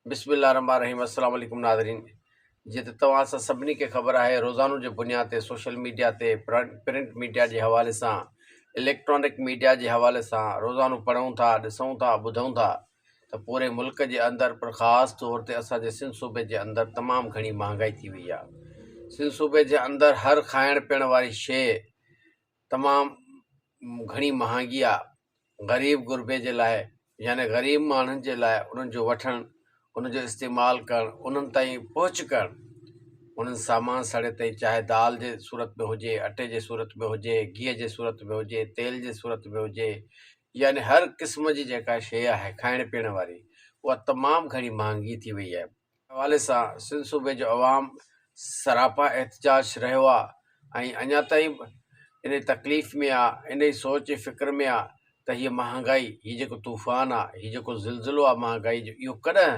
بسم الله الرحمٰن الرحيم السلام عليڪم ناظرين جيئن ته توهان سان سڀني کي خبر آهي روزانو جي بنياد تي سوشل ميڊيا تي پرنٽ ميڊيا جي حوالي سان اليڪٽرانڪ ميڊيا جي حوالي سان روزانو پڙهون ٿا ڏسون ٿا ٻڌون ٿا ته پوري ملڪ جي اندر پر خاص طور تي اسان جي سنڌ صوبي جي اندر تمام گهڻي مهانگائي ٿي وئي آهي سنڌ صوبي جي اندر هر کائڻ پيئڻ واري شيء تمام گهڻي مهانگي آهي غريب غربي جي لاء يعني غريب ماڻهن جي لاء انهن جو وٺڻ، انهن جو استعمال ڪرڻ، انهن تائين پهچ ڪرڻ، انهن سامان سڙي تائين چاهي دال جي صورت ۾ هجي، اٽي جي صورت ۾ هجي، گيهه جي صورت ۾ هجي، تيل جي صورت ۾ هجي يعني هر قسم جي جيڪا شيء آهي کائڻ پيئڻ واري اها تمام گهڻي مهانگي ٿي وئي آهي. حوالي سان سنڌ صوبي جو عوام سراپا احتجاج رهيو آ ۽ اڃا تائين به انهي تڪليف ۾ آ انهي سوچ ۽ فڪر ۾ آ ته هيء مهانگائي هي جيڪو طوفان آ هي جيڪو زلزلو آ مهانگائي جو اهو ڪڏهن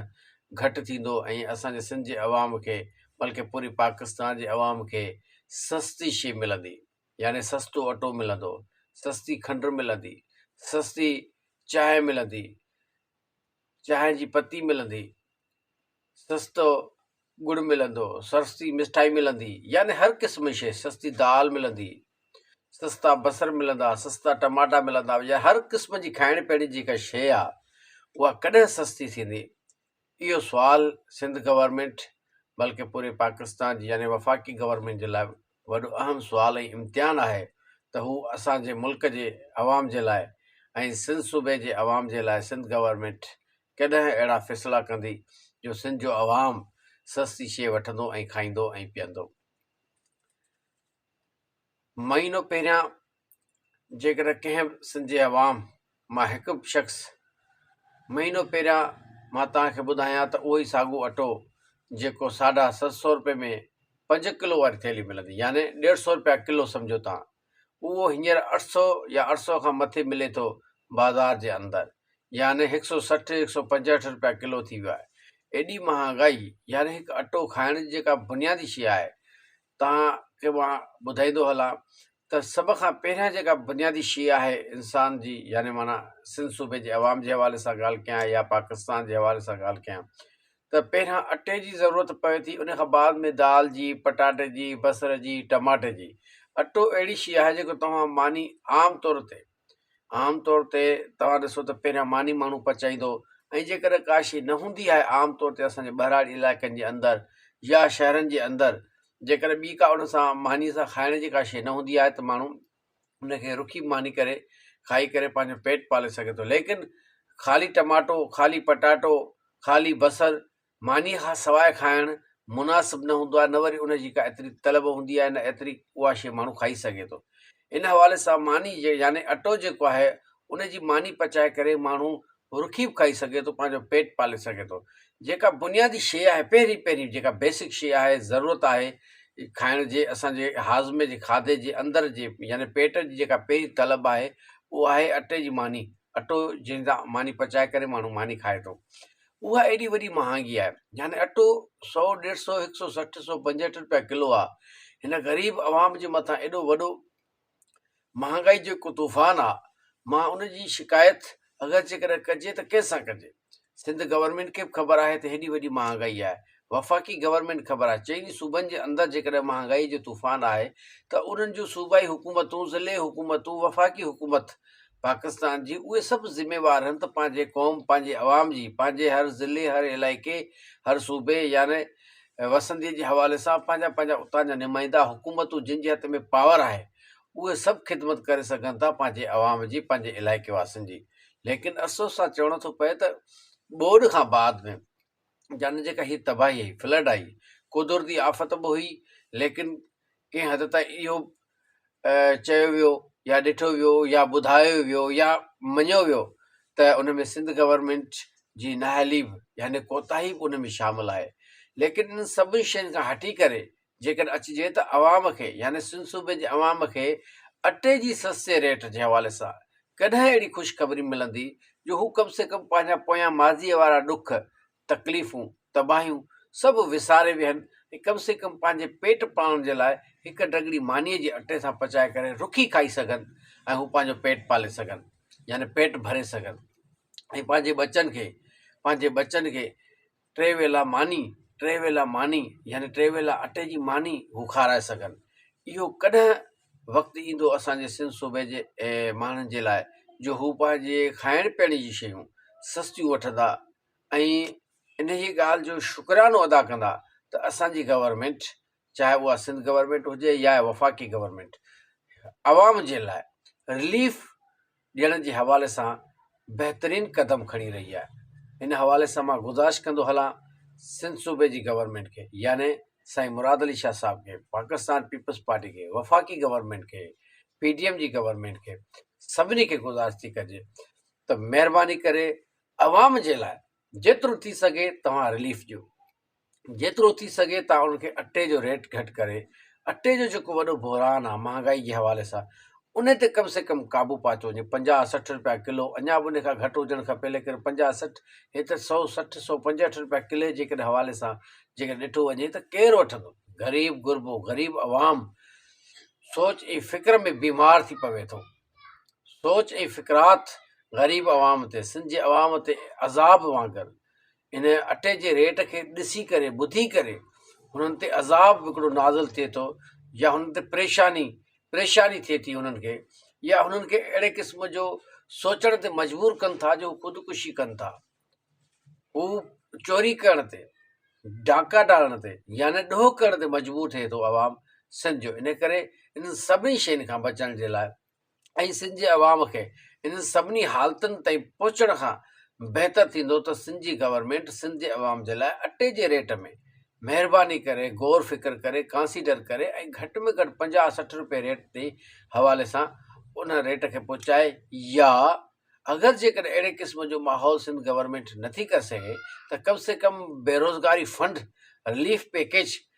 گهٽ ٿيندو ۽ اسان جي سنڌ جي عوام کي بلڪه پوري پاڪستان جي عوام کي سستي شي ملندي يعني سستو اٽو ملندو سستي کنڊ ملندي سستي چانهه ملندي چانهه جي پتي ملندي، سستو ڳڙ ملندو، سستي مٺائي ملندي يعني هر قسم جي شيء، سستي دال ملندي، سستا بصر ملندا، سستا ٽماٽا ملندا يعني هر قسم جي کائڻ پيئڻ جي جيڪا شيء آ اها ڪڏهن سستي ٿيندي؟ اهو سوال سنڌ گورنمينٽ بلڪه پوري پاڪستان جي يعني وفاقي گورنمينٽ جي لاء وڏو اهم سوال ۽ امتحان آهي ته هو اسان جي ملڪ جي عوام جي لاء ۽ سنڌ صوبي جي عوام جي لاء سنڌ گورنمينٽ ڪڏهن اهڙا فيصلا ڪندي جو سنڌ جو عوام سستي شيء وٺندو ۽ کائيندو ۽ پيئندو. مهينو پهريان جيڪڏهن ڪنهن به سنڌي عوام مان هڪ به شخص مهينو پهريان مان توهان کي ٻڌايان ته اهو ئي ساڳو اٽو جيڪو ساڍا ست سو روپئي ۾ پنج ڪلو واري ٿيلهي ملندي يعني ڏيڍ سو روپيا ڪلو سمجهو توهان اهو هينئر اٺ سو يا اٺ سو کان مٿي ملي ٿو بازار جي اندر يعني هڪ سو سٺ هڪ سو پنجهٺ روپيا ڪلو ٿي ويو آهي ايڏي مهانگائي يعني هڪ اٽو کائڻ جي جيڪا بنيادي شيء آهي توهان کي مان ٻڌائيندو هلان ته سڀ کان پهريان جيڪا بنيادي شيء آهي انسان جي يعني معنيٰ سنڌ صوبي جي عوام جي حوالي سان ڳالهه ڪيان يا پاڪستان جي حوالي سان ڳالهه ڪيان ته پهريان اٽي جي ضرورت پوي ٿي ان کان بعد ۾ دال جي پٽاٽي جي بصر جي ٽماٽي جي اٽو اهڙي شيء آهي جيڪو توهان معني عام طور تي عام طور تي توهان ڏسو ته پهريان ماني ماڻهو پچائيندو ۽ جيڪڏهن ڪا شيء نه هوندي آهي عام طور تي اسان جي ٻهراڙي علائقن جي اندر يا شهرن جي اندر جيڪڏهن ٻي ڪا ان سان مانيء سان کائڻ جي ڪا شيء نه هوندي آهي ته ماڻهو ان کي رکي ماني ڪري کائي ڪري پنهنجو پيٽ پالي سگهي ٿو ليڪن خالي ٽماٽو خالي پٽاٽو خالي بصر مانيء کان سواء کائڻ مناسب نه هوندو آهي، نه وري ان جي ڪا ايتري طلب هوندي آهي، نه ايتري اها شيء ماڻهو کائي سگهي ٿو. ان حوالي سان ماني يعني اٽو جيڪو آهي، ان جي ماني پچائي ڪري ماڻهو رکي به کائي سگهي ٿو، پنهنجو پيٽ پالي سگهي ٿو. جيڪا بنيادي شيء آهي، پهرين پهرين جيڪا بيسڪ شيء آهي، ضرورت آهي کائڻ جي، اسان جي هاضمي جي کاڌي جي اندر جي يعني پيٽ جي جيڪا پهرين طلب آهي، اها آهي اٽي جي ماني. اٽو جنهن سان ماني پچائي ڪري ماڻهو ماني کائي ٿو. اها ايڏي وڏي مهانگي آهي، يعني اٽو سؤ، ڏيڍ سؤ، هڪ سؤ سٺ، سؤ پنجهٺ رپيا ڪلو آ، هن غريب عوام جي مٿان ايڏو وڏو مهانگائي جو هڪ طوفان آ، مان ان جي شڪايت اگر جيڪڏهن ڪجي ته ڪنهن سان ڪجي؟ سنڌ گورنمينٽ کي به خبر آهي ته هيڏي وڏي مهانگائي آهي، وفاقي گورنمينٽ خبر آهي چئني صوبن جي اندر جيڪڏهن مهانگائي جو طوفان آهي ته انهن جون صوبائي حڪومتون ضلعي حڪومتون وفاقي حڪومت پاڪستان جي اهي سڀ ذميوار هن ته پنهنجي قوم پنهنجي عوام جي پنهنجي هر ضلعي هر علائقي هر صوبي يعني وسندي جي حوالي سان پنهنجا پنهنجا اتان جا نمائندا حڪومتون جن جي هٿ ۾ پاور آهي اهي سڀ خدمت ڪري سگهن ٿا پنهنجي عوام جي پنهنجي علائقي واسين جي ليڪن افسوس سان چوڻو ٿو پئي ته ٻوڏ کان بعد ۾ جنھن جي ڪهي تباهي آئي، فلڊ آئي، قدرتي آفت به هئي ليڪن ڪنهن حد تائين اهو چيو ويو يا ڏٺو ويو يا ٻڌايو ويو يا مڃيو ويو ته ان ۾ سنڌ گورنمينٽ جي نااهلي به يعني ڪوتاهي به ان ۾ شامل آهي ليڪن ان سڀني شين کان هٽي ڪري جيڪڏهن اچجي ته عوام کي يعني سنڌ صوبي جي عوام کي اٽي جي سستي ريٽ جي حوالي سان ڪڏهن اهڙي خوشخبري ملندي جو هو ڪم سي ڪم پنهنجا پويان ماضيء وارا ڏک، تڪليفون، تباهيون سڀ وساري ويهن ۽ ڪم سي ڪم پنهنجي پيٽ پالڻ جي لاء هڪ ڍڳڙي مانيء جي اٽي سان پچائي ڪري رکي کائي سگهن ۽ هو پنهنجو پيٽ پالي سگهن يعني پيٽ ڀري سگهن ۽ پنهنجي ٻچن کي پنهنجي ٻچن کي ٽي ويلا ماني، ٽي ويلا ماني يعني ٽي ويلا اٽي جي ماني هو کارائي سگهن. اهو ڪڏهن وقت ايندو اسان جي سنڌ صوبي جي ماڻهن جي لاء جو هو پنهنجي کائڻ پيئڻ جي شيون سستيون وٺندا ۽ انهيء ڳالهه جو شڪرانو ادا ڪندا ته اسان جي گورنمينٽ چاهي اها سنڌ گورنمينٽ هجي يا وفاقي گورنمينٽ عوام جي لاء رليف ڏيڻ جي حوالي سان بهترين قدم کڻي رهي آهي ان حوالي سان مان گذارش ڪندو هلان سنڌ صوبي جي گورنمينٽ کي يعني سائين مراد علي شاهه صاحب کي پاڪستان پيپلز پارٽي کي وفاقي گورنمينٽ کي پي ڊي ايم جي گورنمينٽ کي سڀني کي گذارش ٿي ڪجي ته مهرباني ڪري عوام جي لاء جيترو ٿي سگهي توهان رليف ڏيو جيترو ٿي سگهي تان انهن کي اٽي جو ريٽ گهٽ ڪري اٽي جو جيڪو وڏو بحران آهي مهانگائي جي حوالي سان انهي تي ڪم سي ڪم قابو پاتو وڃي پنجاهه سٺ رپيا ڪلو اڃا به انهي کان گهٽ هجڻ کپي ليڪن پنجاهه سٺ هي ته سؤ سٺ سؤ پنجهٺ رپيا ڪلي جيڪڏهن حوالي سان جيڪڏهن ڏٺو وڃي ته ڪير وٺندو غريب غربو غريب عوام سوچ ۽ فڪر ۾ بيمار ٿي پوي ٿو سوچ ۽ فڪرات غريب عوام تي سنڌ جي عوام تي عذاب وانگر ان اٽي جي ريٽ کي ڏسي ڪري ٻڌي ڪري هنن تي عذاب به هڪڙو نازل ٿئي ٿو يا هنن تي پريشاني پريشاني ٿئي ٿي هنن کي يا هنن کي اهڙي قسم جو سوچڻ تي مجبور ڪن ٿا جو خودڪشي ڪن ٿا هو چوري ڪرڻ تي ڊاڪا ڊالڻ تي يعني ڏوهه ڪرڻ تي مجبور ٿئي ٿو عوام سنڌ جو ان ڪري انهن سڀني شين کان بچڻ جي لاء ۽ سنڌ جي عوام کي انهن سڀني حالتن تائين پهچڻ کان بهتر ٿيندو ته سنڌ جي گورنمينٽ سنڌ جي عوام جي لاء اٽي جي ريٽ ۾ مهرباني ڪري غور فڪر ڪري ڪانسيڊر ڪري ۽ گهٽ ۾ گهٽ پنجاهه سٺ روپيه ريٽ جي حوالي سان ان ريٽ کي پهچائي يا اگر جيڪڏهن اهڙي قسم جو ماحول سنڌ گورنمينٽ نٿي ڪري سگهي ته ڪم سي ڪم بيروزگاري فنڊ رليف پيڪيج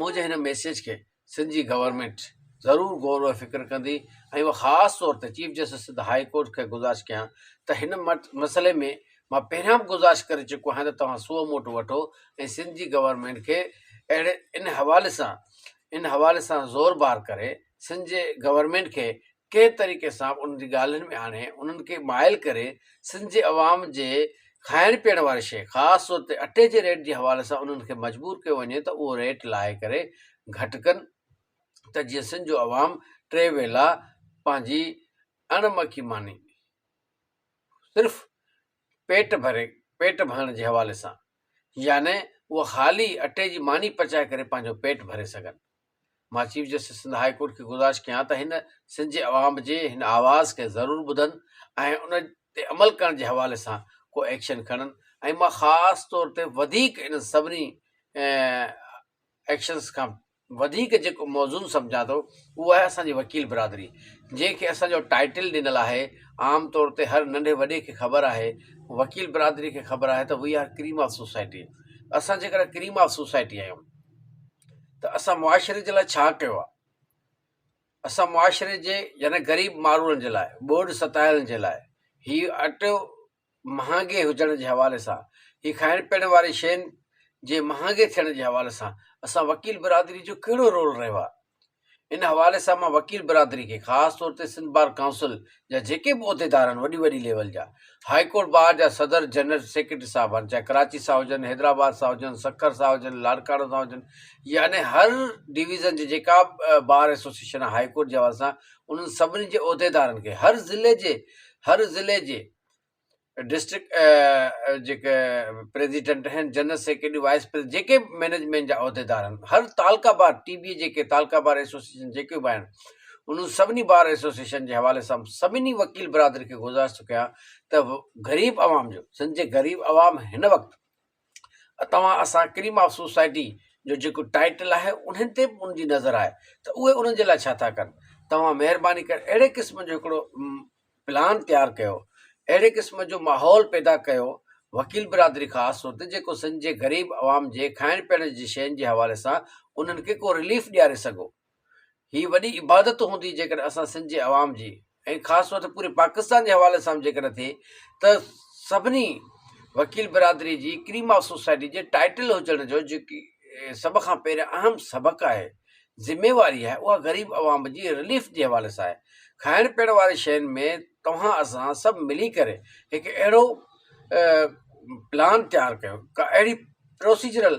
منهنجي هن ميسيج کي سنڌ جي گورنمينٽ ضرور غور و فڪر ڪندي ۽ اهو خاص طور تي chief justice Sindh high court کي گذارش ڪيان ته هن مسئلي ۾ مان پهريان به گذارش ڪري چڪو آهيان ته توهان سو موٽ وٺو ۽ سنڌ جي گورنمينٽ کي اهڙي ان حوالي سان ان حوالي سان زور بار ڪري سنڌ جي گورنمينٽ کي ڪنهن طريقي سان به انهن جي ڳالهين ۾ آڻي انهن کي مائل ڪري سنڌ جي عوام جي کائڻ پيئڻ واري شيء خاص طور تي اٽي جي ريٽ جي حوالي سان انهن کي مجبور ڪيو وڃي ته اهو ريٽ لاهي ڪري گهٽ ڪن ته جيئن سنڌ جو عوام ٽي ويلا پنهنجي اڻ مکي ماني صرف پيٽ ڀري پيٽ ڀرڻ جي حوالي سان يعني اهو خالي اٽي جي ماني پچائي ڪري پنهنجو پيٽ ڀري سگهن مان chief justice Sindh high court کي گذارش ڪيان ته هن سنڌ جي عوام جي هن آواز کي ضرور ٻڌن ۽ ان تي عمل ڪرڻ جي حوالي سان ڪو ايڪشن کڻن ۽ مان خاص طور تي وڌيڪ انهن سڀني ايڪشنز کان وڌيڪ جيڪو موزون سمجهان ٿو اهو آهي اسان جي وڪيل برادري جنهن کي اسان جو ٽائيٽل ڏنل آهي عام طور تي هر ننڍي وڏي کي خبر آهي وڪيل برادري کي خبر آهي ته we are cream of society اسان جيڪڏهن ڪريم آف سوسائٽي آهيون ته اسان معاشري جي لاء ڇا ڪيو آهي؟ اسان معاشري جي يعني غريب ماڻهن جي لاء ٻوڏ ستايل جي لاء هي اٽو مهانگي هجڻ جي حوالي سان هي کائڻ پيئڻ واري شين جي مهانگي ٿيڻ جي حوالي سان اسان وڪيل برادري جو ڪهڙو رول رهيو آهي؟ ان حوالي سان مان وڪيل برادري کي خاص طور تي سنڌ بار ڪائونسل جا جيڪي به عهديدار آهن وڏي وڏي ليول جا هائي ڪورٽ بار جا صدر جنرل سيڪريٽري صاحب آهن چاهي ڪراچي سان هجن حيدرآباد سان هجن سکر سان هجن لاڙڪاڻو سان هجن يعني هر ڊويزن جي جيڪا بار ايسوسيشن آهي هائي ڪورٽ جي حوالي سان انهن سڀني جي عهديدارن کي هر ضلعي جي هر ضلعي جي ڊسٽرڪٽ جيڪي پريزيڊنٽ آهن جنرل سيڪريٽري وائس پريزيڊنٽ جيڪي به مينجمينٽ جا عهديدار آهن هر تعلقه بار ٽي بي جيڪي تعلقه بار ايسوسيئيشن جيڪي به آهن انهن سڀني بار ايسوسيئيشن جي حوالي سان سڀني وڪيل برادري کي گذارش ٿو ڪيان ته غريب عوام جو سنڌ جي غريب عوام هن وقت توهان اسان ڪريم آف سوسائٽي جو جيڪو ٽائيٽل آهي انهن تي به ان جي نظر آهي ته اهي انهن جي لاء ڇا ٿا ڪن توهان مهرباني ڪري اهڙي قسم جو هڪڙو پلان تيار ڪيو اهڙي قسم جو ماحول پيدا ڪيو وڪيل برادري خاص طور تي جيڪو سنڌ جي غريب عوام جي کائڻ پيئڻ جي شين جي حوالي سان انهن کي ڪو رليف ڏياري سگهو هي وڏي عبادت هوندي جيڪڏهن اسان سنڌ جي عوام جي ۽ خاص طور تي پوري پاڪستان جي حوالي سان به جيڪڏهن ٿئي ته سڀني وڪيل برادري جي ڪريم آف سوسائٽي جي ٽائيٽل هجڻ جو جيڪي سڀ کان پهريان اهم سبق آهي ذميواري آهي اها غريب عوام جي رليف جي حوالي سان آهي کائڻ پيئڻ واري شين ۾ توهان اسان سڀ ملي ڪري هڪ اهڙو پلان تيار ڪيو ڪا اهڙي پروسيجرل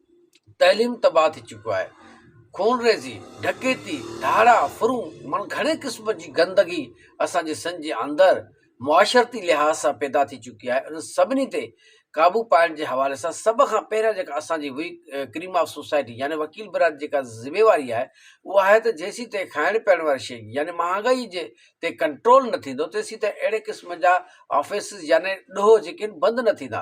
تعليم تباهه ٿي چڪو آهي، خونريزي، ڊڪيتي، ڌاڙا، ڦرون معني گهڻي قسم جي گندگي اسان جي سنڌ جي اندر معاشرتي لحاظ سان پيدا ٿي چڪي آهي، انهن سڀني تي قابو پائڻ جي حوالي سان سڀ کان پهريان جيڪا اسان جي وي ڪريم آف سوسائٽي يعني وڪيل برادري جيڪا ذميواري آهي اها آهي ته جيسين تائين کائڻ پيئڻ واري شيء يعني مهانگائي جي تي ڪنٽرول نه ٿيندو تيسين تائين اهڙي قسم جا آفيسز يعني ڏوهه جيڪي آهن بند نه ٿيندا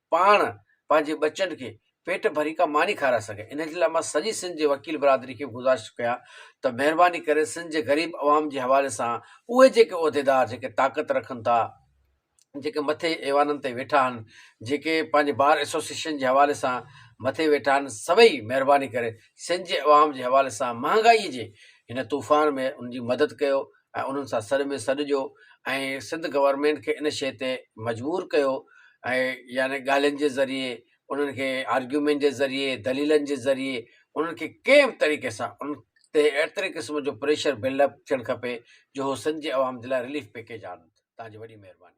پاڻ پنهنجي ٻچن کي پيٽ ڀري ڪا ماني کارائي سگهي ان جي لاء مان سڄي سنڌ جي وڪيل برادري کي گذارش ڪيان ته مهرباني ڪري سنڌ جي غريب عوام جي حوالي سان اهي جيڪي عهديدار جيڪي طاقت رکن ٿا جيڪي مٿي ايوانن تي ويٺا آهن جيڪي پنهنجي بار ايسوسيشن جي حوالي سان مٿي ويٺا آهن سڀئي مهرباني ڪري سنڌ جي عوام جي حوالي سان مهانگائي جي هن طوفان ۾ ان جي مدد ڪيو ۽ انهن سان سڏ ۾ سڏ ڏيو ۽ سنڌ گورنمينٽ کي ان شيء تي مجبور ڪيو ۽ يعني ڳالهين جي ذريعي انهن کي آرگيومينٽ جي ذريعي دليلن جي ذريعي انهن کي ڪنهن به طريقي سان ان تي ايتري قسم جو پريشر بلڊ اپ ٿيڻ کپي جو هو سنڌ جي عوام جي لاء رليف پيڪيج آڻن تهنجي وڏي مهرباني.